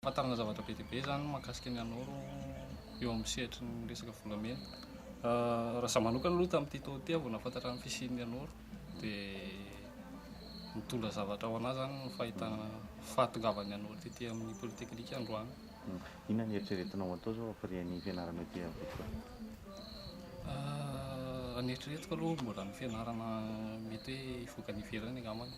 Fantarina zavatra be dia be izany mahakasika ny anao eo amin'ny sehatry ny resaka volamena. Raha izaho manokana aloha tamin'ity taona ity aho vao nahafantatra ny fisian'ny anoro dia nitondra zavatra ho anà izany ny fahitana fahatongavan'ny anoro ety amin'ny polytechnique androany. Hmm. Inona ny eritreretinao atao izao ampirian'ny fianarana ety amin'ny Vitsy Fara? Ah, ny eritreretiko aloha mbola ny fianarana mety hoe hivoaka any ivelany angambany.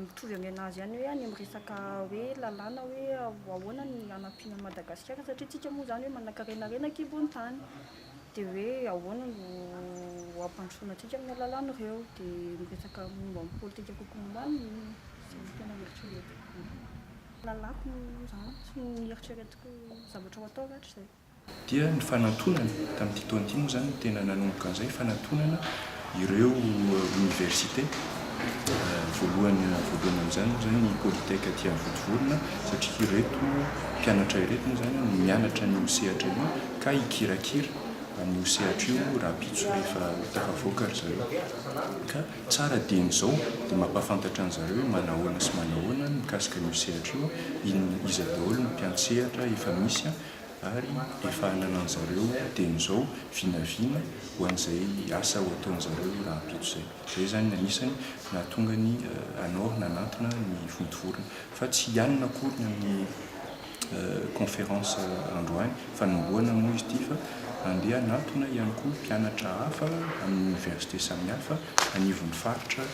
mitovy amin'ny an'azy ihany hoe any amin'ny resaka hoe lalàna hoe ahoana ny hanampiana an'i Madagasikara satria isika moa izany hoe manankarena harena an-kibon-tany dia hoe ahoana no hampandrosoana antsika amin'ny alalan'ny ireo dia miresaka momba ny politika kokoa momba ny izay no tena eritreretiko lalàko moa izany sy ny eritreretiko zavatra ho atao rahatrizay Dia ny fanatonana, tamin'ity taona ity moa izany no tena nanomboka an'izay, fanatonana ireo oniversite. Voalohany voalohany amin'izany moa izany ny Polytech aty amin'ny Vontovorona, satria ireto mpianatra ireto moa izany no mianatra an'io sehatra io ka hikirakira an'io sehatra io rahampitso rehefa ho tafavoaka ry zareo. Ka tsara dieny izao dia mampahafantatra an'zareo hoe manahoana sy manahoana ny mikasika an'io sehatra io, inona, iza daholo ny mpiantsehatra efa misy. ary efa ananan'i zareo teny izao vinavina ho an'izay asa ho ataon'i zareo rahampitso izay. Izay izany ny anisany nahatonga ny Anor nanantona ny vontovorona. Fa tsy hianina akory ny amin'ny conférence androany, fanombohana moa izy ity, fa handeha hanantona ihany koa mpianatra hafa amin'ny université samihafa anivon'ny faritra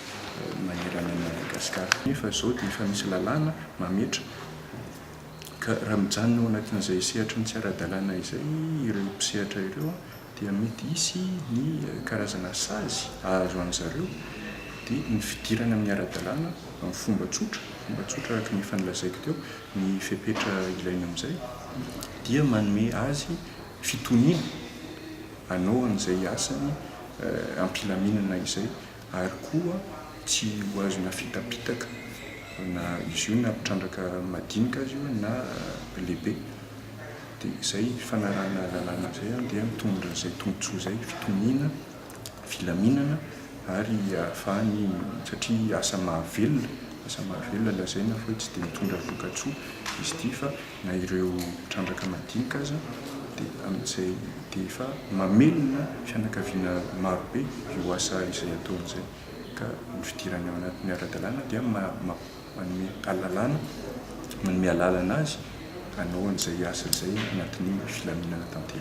manerana an'i Madagascar. Nefa izao dia efa misy lalàna mametra. Ka raha mijanona ao anatin'izay sehatry ny tsy ara-dalàna izay ireo mpisehatra ireo dia mety hisy ny karazana sazy hahazo an-dry zareo, dia ny fidirana amin'ny ara-dalàna amin'ny fomba tsotra, fomba tsotra araka ny efa nolazaiko teo, ny fepetra ilaina amin'izay dia manome azy fitoniana hanao an'izay asany am-pilaminana izay. ary koa tsy ho azo na fitapitaka na izy io na mpitrandraka madinika aza io na lehibe dia izay fanarahana lalàna izay dia mitondra izay tombotsoa izay fitoniana filaminana ary ahafahany satria asa mahavelona asa mahavelona lazaina fa hoe tsy dia mitondra vokatsoa izy ity fa na ireo mpitrandraka madinika aza dia amin'izay dia efa mamelona fianakaviana marobe io asa izay ataony izay ka ny fidirany ao anatin'ny ara-dalàna dia manome alalana manome alalana azy hanao an'izay asa izay anatin'ny filaminana tanteraka.